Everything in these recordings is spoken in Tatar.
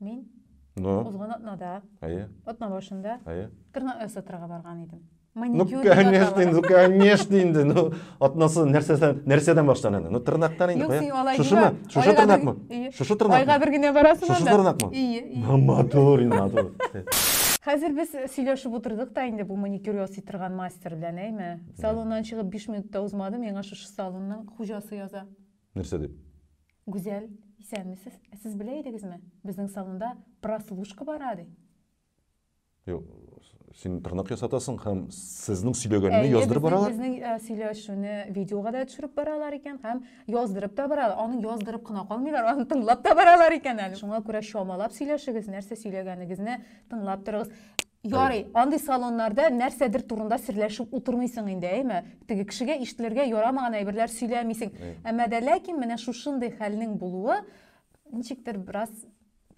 Мин Ну, узган атнада, әйе, атна башында әйе. тырнак ясатырга барган идем. Ну, Маникюр дип конечно, атала. инде, ну, конечно инде, ну, атнасы нәрсәдән, нәрсәдән башлан әле? Ну, тырнактан инде, Юк, кая? син алай Шушымы? димә. Шушы Айга тырнакмы? бер- Ие. Шушы Айга тырнакмы? бер генә барасың Шушы анда. тырнакмы? Ие, ие. Ну, матур, инде, матур. Хәзер без сөйләшеп утырдык та инде бу маникюр ясый торган мастер белән, әйме? Салоннан чыгып 5 минутта узмады, миңа шушы салонның хуҗасы яза. Нәрсә дип? Гүзәл, исәнмесез. Ә сез белә идегезме, безнең салонда прослушка бара, ди. Юк, син интернет ясатасың һәм сезнең сөйләгәнне яздырып баралар? Әйе, безнең э, сөйләшүне видеога да төшереп баралар икән һәм яздырып та баралар. Аны яздырып кына калмыйлар, аны тыңлап та баралар икән әле. Шуңа күрә чамалап сөйләшегез, нәрсә сөйләгәнегезне тыңлап торыгыз. Ярый, андый салоннарда нәрсәдер турында серләшеп утырмыйсың инде, әйме? Теге кешегә ишетелергә ярамаган әйберләр сөйләмисең. Әмма дә ләкин менә шушындый хәлнең булуы ничектер бераз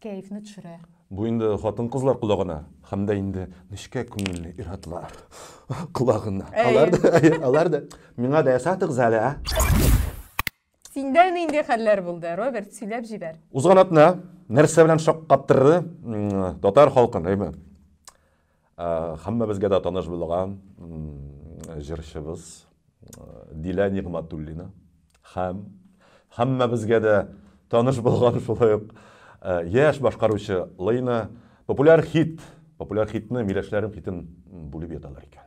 кәефне төшерә. Бу инде хатын-кызлар колагына һәм дә инде нечкә күңелле ир-атлар колагына. Алар да, алар да миңа да ясатыгыз әле, ә? Синдә нинди хәлләр булды, Роберт, сөйләп җибәр. Узган атна нәрсә белән шаккаттырды татар халкын, әйме? Хаммабезгә дә таныш булган җырчыбыз Дилә Нигматуллина һәм хаммабезгә дә таныш булган шулай ук яшь башкаручы Лейна популяр хит, популяр хитны миләшләрем хитен бүлеп яталар икән.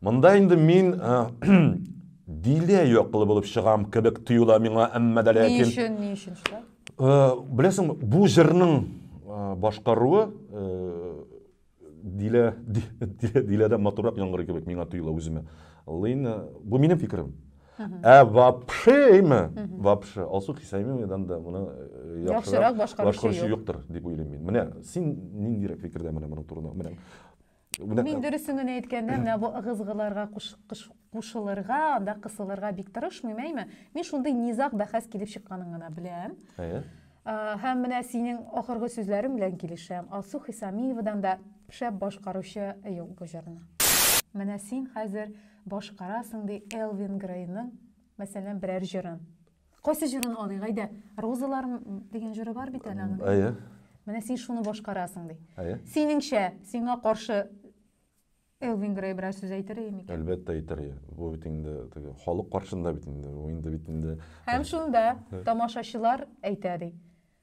Монда инде мин дилә яклы булып чыгам кебек тоела миңа, әмма дә ләкин... Ни өчен, ни өчен шулай? Беләсең, бу җырның башкаруы дилә, дилә, дә матурак яңгырый кебек миңа тоела үземә. Лина, бу минем фикерем. Ә вообще име? Вообще, Алсу Хисаимовнадан да моны яхшырак башкаручы юктыр, дип уйлыйм мин. Менә син ниндирәк фикердә менә моның турында? Менә. Мин дөресен генә әйткәндә, менә бу ыгызгыларга кушылырга, анда кысылырга бик тырышмыйм, әйме? Мин шундый низаг бәхәс килеп чыкканын гына беләм. Әйе. Һәм менә синең ахыргы сүзләрең белән килешәм. Алсу Хисамиевадан да шәп башкаручы юк бу җырны. Менә син хәзер башкарасың ди Элвин Грейның, мәсәлән, берәр җырын. Кайсы җырын алыйк, әйдә. Розалар дигән җыры бар бит әле аның. Әйе. Менә син шуны башкарасың, ди. Әйе. Синеңчә, сиңа каршы Элвин Грей берәр сүз әйтер иде микән? Әлбәттә әйтер иде. Бу бит инде теге халык каршында бит инде. Бу инде бит инде. Һәм шунда тамашачылар әйтә ди.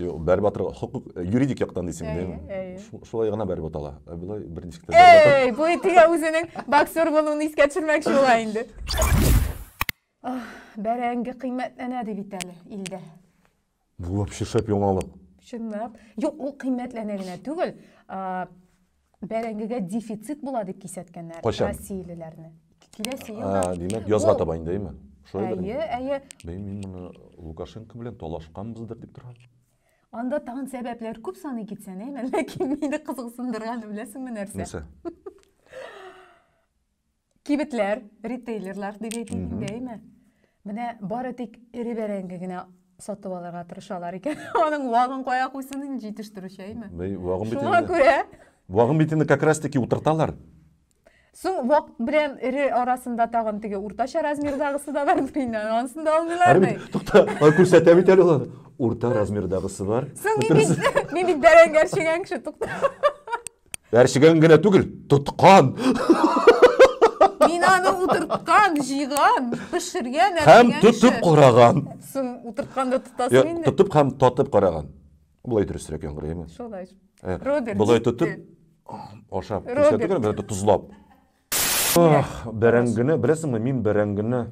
Юк, бәреп атырга, хокук, э, юридик яктан дисең, Әйе, мин әйе. шу- шулай гына бәреп атала. Ә Болай бер ничек тә бәреп атам. Эй, бу итегә үзенең боксер булуын искә төшермәкче була инде. Ах, Бәрәңге кыйммәтләнә ди бит әле илдә. Бу вообще шәп яңалык. Чынлап. Юк, ул кыйммәтләнә генә түгел. а, Бәрәңгегә дефицит була дип кисәткәннәр россиялеләрне. Киләсе елда. Димәк, язга таба инде, әйме? Әйе, әйе. Мин моны Лукашенко белән талашканбыздыр дип торам. Анда тагын сәбәпләр күп саны китсән, әйме, ләкин мине кызыксындырганы беләсеңме нәрсә? Нәрсә? Кибетләр, ритейлерлар дип әйтик инде, әйме? Менә бары тик эре бәрәңге генә сатып алырга тырышалар икән. Аның вагын кая куйсын инде җитештерүче, әйме? Вагын бит Шуңа күрә. Вагын бит инде как раз таки утырталар. Соң вак белән эре арасында тагын теге уртача размердагысы да бар бит. Анысын да алмыйлар бит. Тукта, күрсәтә бит әле ул. Урта размердагысы бар. Соң мин бит бәрәңге чегән кеше, тукта. Әрчегән генә түгел, тоткан. Мин аны утырткан, җыйган, пешергән, Һәм тотып караган. Син утырткан да тотасың инде. Тотып һәм татып караган. Болай дөресрәк яңгырыймы? Шулай. Э, Роберт. Болай тотып ашап. Роберт. Тузлап. Ох, бәрәңгене, беләсеңме, мин бәрәңгене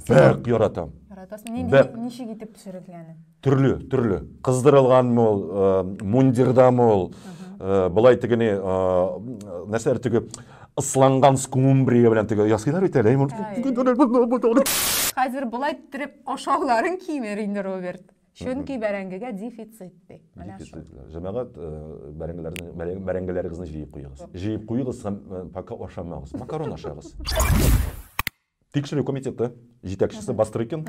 бәк яратам. Яратасың. Нинди Бәк. ничек итеп пешерелгәне? Төрле, төрле. Кыздырылганмы ул, э, мундирдамы ул, э, былай тегене, э, нәрсәләр теге ысланган скумбрия белән теге ясыйлар бит әле. Хәзер болай төреп ашауларын кимер инде, Роберт. Чөнки бәрәңгегә дефицит ди. Менә шул. Дефицит. Җәмәгать, э, бәрәңгеләрне, бәрәң- бәрәңгеләрегезне җыеп куегыз. Җыеп куегыз һәм э, пока ашамагыз. Макарон ашагыз. Тикшерү комитеты җитәкчесе Бастрыкин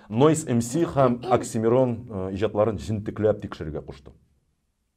Noise MC һәм Оксимирон э, иҗатларын җентекләп тикшерергә кушты.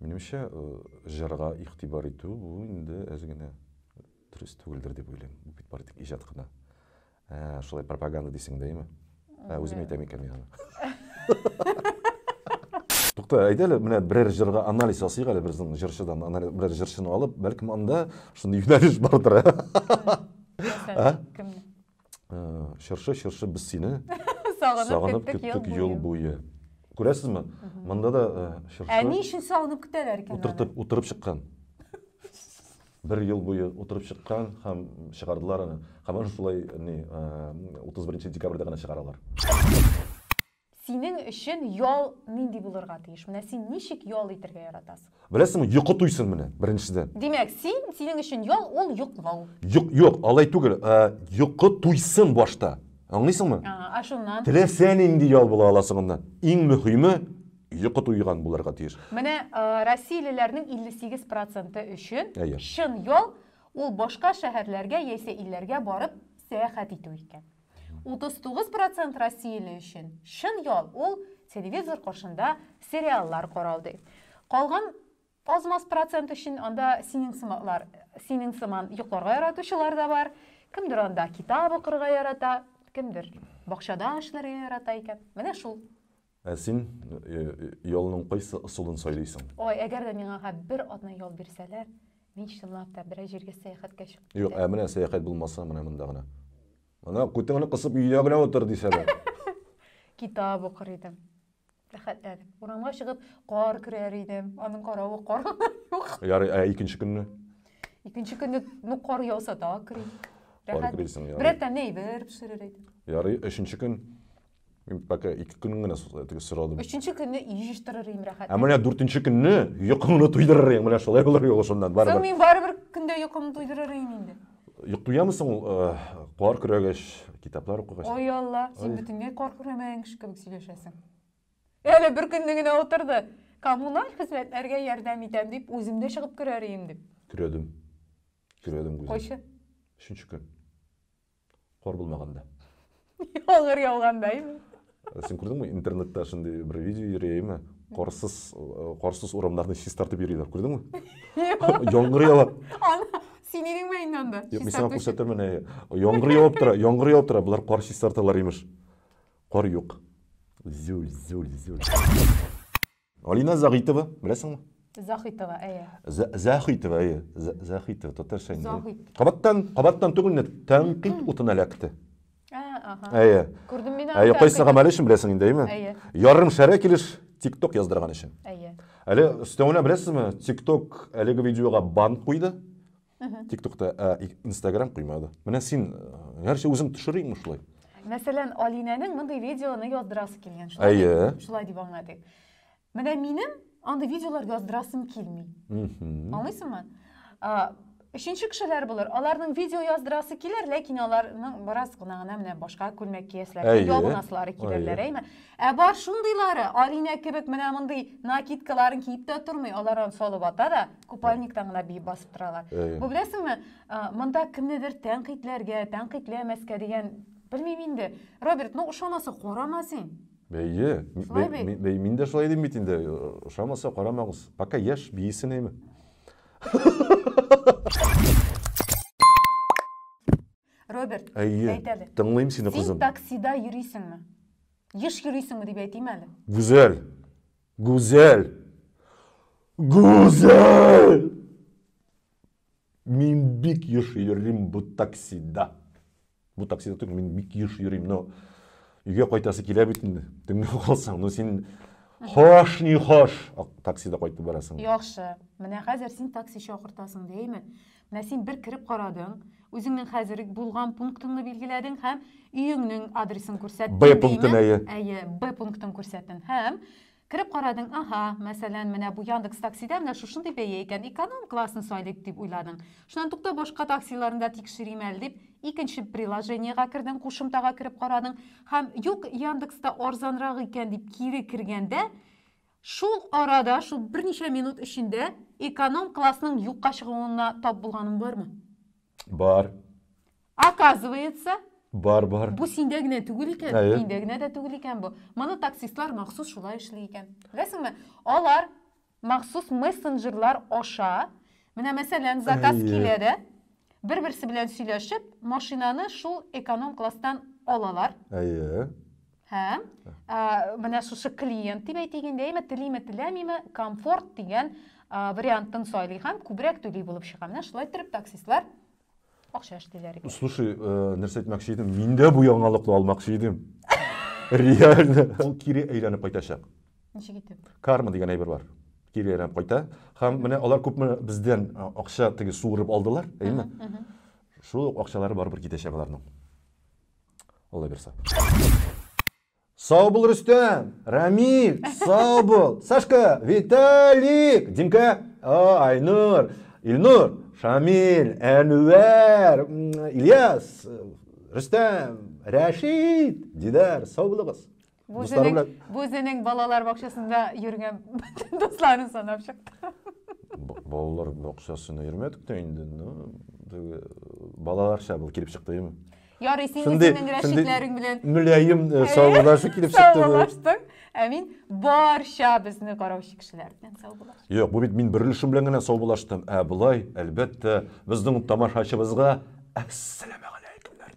Минемчә, җырга игътибар итү бу инде әз генә дөрес түгелдер дип уйлыйм. Бу бит бары тик иҗат кына. Ә, шулай пропаганда дисең дә, әйме? Ә, үзем әйтәм икән мин аны. Тукта, әйдә әле менә берәр җырга анализ ясыйк әле безнең җырчыдан. Анализ берәр җырчыны алып, бәлкем анда шундый юнәлеш бардыр. Ә? Кемне? Чыршы, чыршы, без сине сагынып көттек юл буе. Күрәсезме? Монда да чыршы. Ә ни өчен сагынып көтәләр икән? Утыртып, утырып чыккан. Бер ел буе утырып чыккан һәм чыгардылар аны. Һәм аны шулай ни 31 декабрьдә генә чыгаралар. Синең өчен ял нинди булырга тиеш? Менә син ничек ял итергә яратасың? Беләсеңме, йокы туйсын менә, беренчедән. Димәк, син, синең өчен ял, ул йоклау. Юк, юк, алай түгел. Йокы туйсын башта. Аңлыйсыңмы? Ага, а шуннан? Теләсә нинди ял була ала соңыннан. Иң мөһиме, йокы туйган булырга тиеш. Менә россиялеләрнең 58 проценты өчен чын ял, ул башка шәһәрләргә яисә илләргә барып сәяхәт итү икән. 39 процент россияле өчен чын ял ул телевизор каршында сериаллар карау ди. Калган аз-маз процент өчен анда синең сымаклар, синең сыман йокларга яратучылар да бар. Кемдер анда китап укырга ярата, кемдер бакчада эшләргә ярата икән. Менә шул. Ә син ялның кайсы ысулын сайлыйсың? Ой, әгәр дә миңа га бер атна ял бирсәләр, мин чынлап та берәр җиргә сәяхәткә чыгып китәм. Юк, ә менә сәяхәт булмаса, менә монда гына. Ана, күтеңне кысып өйдә генә утыр, дисәләр. Китап укыр идем. Рәхәтләнеп. Урамга чыгып, кар көрәр идем. Аның каравы кар юк. Ярый, ә икенче көнне? Икенче көнне, ну, кар яуса да, көрим. Кар көрисең, ярый. Берәр тәмле әйбер пешерер идем. Ярый, өченче көн Мин пока ике көн генә теге сорадым. Өченче көнне җыештырыр идем рәхәт. Ә менә дүртенче көнне йокыңны туйдырыр идең, менә шулай булыр юлы шуннан барыбер. Соң мин барыбер көндә йокымны туйдырыр идем инде. Йок туямы соң ул э, кар көрәгәч, китаплар укыгач? Ой Алла, син бөтенләй кар көрәмәгән кеше кебек сөйләшәсең. Әле бер көнне генә утырды. Коммуналь хезмәтләргә ярдәм итәм дип, үзем дә чыгып көрәр идем дип. Көрәдем. Көрәдем үзем. Кайчы? Өченче көн. Кар булмаганда. Яңгыр яуганда име? Э, син күрдеңме интернетта шундый бер видео йөри әйме карсыз э, карсыз урамнарны чистартып йөриләр күрдеңме яңгыр ява син идеңме инде анда юк мин сиңа күрсәтермен яңгыр явып тора яңгыр явып тора болар кар чистарталар имеш кар юк зюль зюль зюль Алина Загитова, беләсеңме? Захитова, әйе. Захитова, әйе. Захитова, татарча инде. Захит. Кабаттан, кабаттан түгел, тәнкыйть утына эләкте. Әйе. Күрдем мин аны. Әйе, кайсы гамәле өчен беләсең инде, әйеме? Әйе. Ярым шәрә килеш TikTok яздырган өчен. Әйе. Әле өстәвенә беләсезме, TikTok әлеге видеога бан куйды. Тиктокта, ә Инстаграм куймады. Менә син, гәрчә үзең төшерәйме шулай? Мәсәлән, Алинәнең мондый видеоны яздырасы килгән. Әйе. Шулай дип аңладык. Менә минем андый видеолар яздырасым килми. Аңлыйсыңмы? Өченче кешеләр булыр. Аларның видео яздырасы килер, ләкин аларның бераз гына гына менә башка күлмәк киясләр, ябынаслары килерләр, әйме? Ә бар шундыйлары, Алинә кебек менә мондый накидкаларын киеп тә тормый, алар аны салып ата да. купальниктан гына биеп басып торалар бу беләсеңме монда кемнедер тәнкыйтьләргә тәнкыйтьләмәскә дигән белмим инде роберт ну ошамаса карама син бәйе бәй мин дә шулай дим бит инде ошамаса карамагыз пока яшь биесен әйме роберт әйе әйт әле тыңлыйм сине кызым син таксида йөрисеңме еш йөрисеңме дип әйтим әле гүзәл Гүзәл! Гүзәл! Мин бик еш йөрим бу таксида. Бу таксида түгел, мин бик еш йөрим, но өйгә кайтасы килә бит инде. Төнлә калсаң, ну син хош ни хош таксида кайтып барасың. Яхшы. Менә хәзер син такси чакыртасың, дәйме? Менә син бер кереп карадың, үзеңнең хәзер булган пунктыңны билгеләдең һәм өеңнең адресын күрсәттең. Б пунктын әйе. Әйе, Б пунктын күрсәттең һәм кереп карадың, ага, мәсәлән, менә бу Яндекс таксида менә шушындый бәя икән, эконом классны сайлыйк дип уйладың. Шуннан тукта башка таксиларны да тикшерим әле дип, икенче приложениегә кердең, кушымтага кереп карадың һәм юк, Яндекста арзанрак икән дип кире кергәндә, Шул арада, шул берничә минут эчендә эконом-классның юкка чыгуына тап булганың бармы? Бар. Оказывается, Бар, бар. бу синдә генә түгел икән, Әйе. миндә генә дә түгел икән бу. Моны таксистлар махсус шулай эшли икән. Беләсеңме? Алар махсус мессенджерлар аша, менә мәсәлән, заказ Әйе. килә дә, бер-берсе белән сөйләшеп, машинаны шул эконом-класстан алалар. Әйе. Һәм ә, менә шушы клиент дип әйтик инде, әйме телиме теләмиме, комфорт дигән ә, вариантын сайлый һәм күбрәк түли булып чыга. Менә шулай торып таксистлар акча эшлиләр. Слушай, э, нәрсә әйтмәкче идем? Мин дә бу яңалыкны алмакчы идем. Реально. Ул кире әйләнеп кайтачак. Ничек итеп? Карма дигән әйбер бар. Кире әйләнеп кайта. Һәм менә алар күпме бездән э, акча теге суырып алдылар, әйме? Шул акчалары барыбер китәчәк аларның. Алла бирса. Сау бул, Рөстәм! Рамиль, сау бул! Сашка, Виталик, Димка, Айнур, Илнур, Шамиль, Әнвәр, Ильяс, Рөстәм, Рәшид, Дидар, сау булыгыз. Бу Дуслары үзенең, белән- бу үзенең балалар бакчасында йөргән бөтен дусларын санап чыкты. Б- Балалар бакчасына йөрмәдек тә инде. ну, теге, Балаларча был килеп чыкты. эм. Ярый, син Шундый- үзеңнең шундый рәшитләрең белән Мөлаем э, саубулашы килеп чыкты. бу. саубулаштың, ә мин барча безне караучы кешеләр белән саубулаштым. Юк, бу бит мин бер өлешем белән генә саубулаштым. Ә болай, әлбәттә, безнең тамашачыбызга әссәламәгаләйкемнәр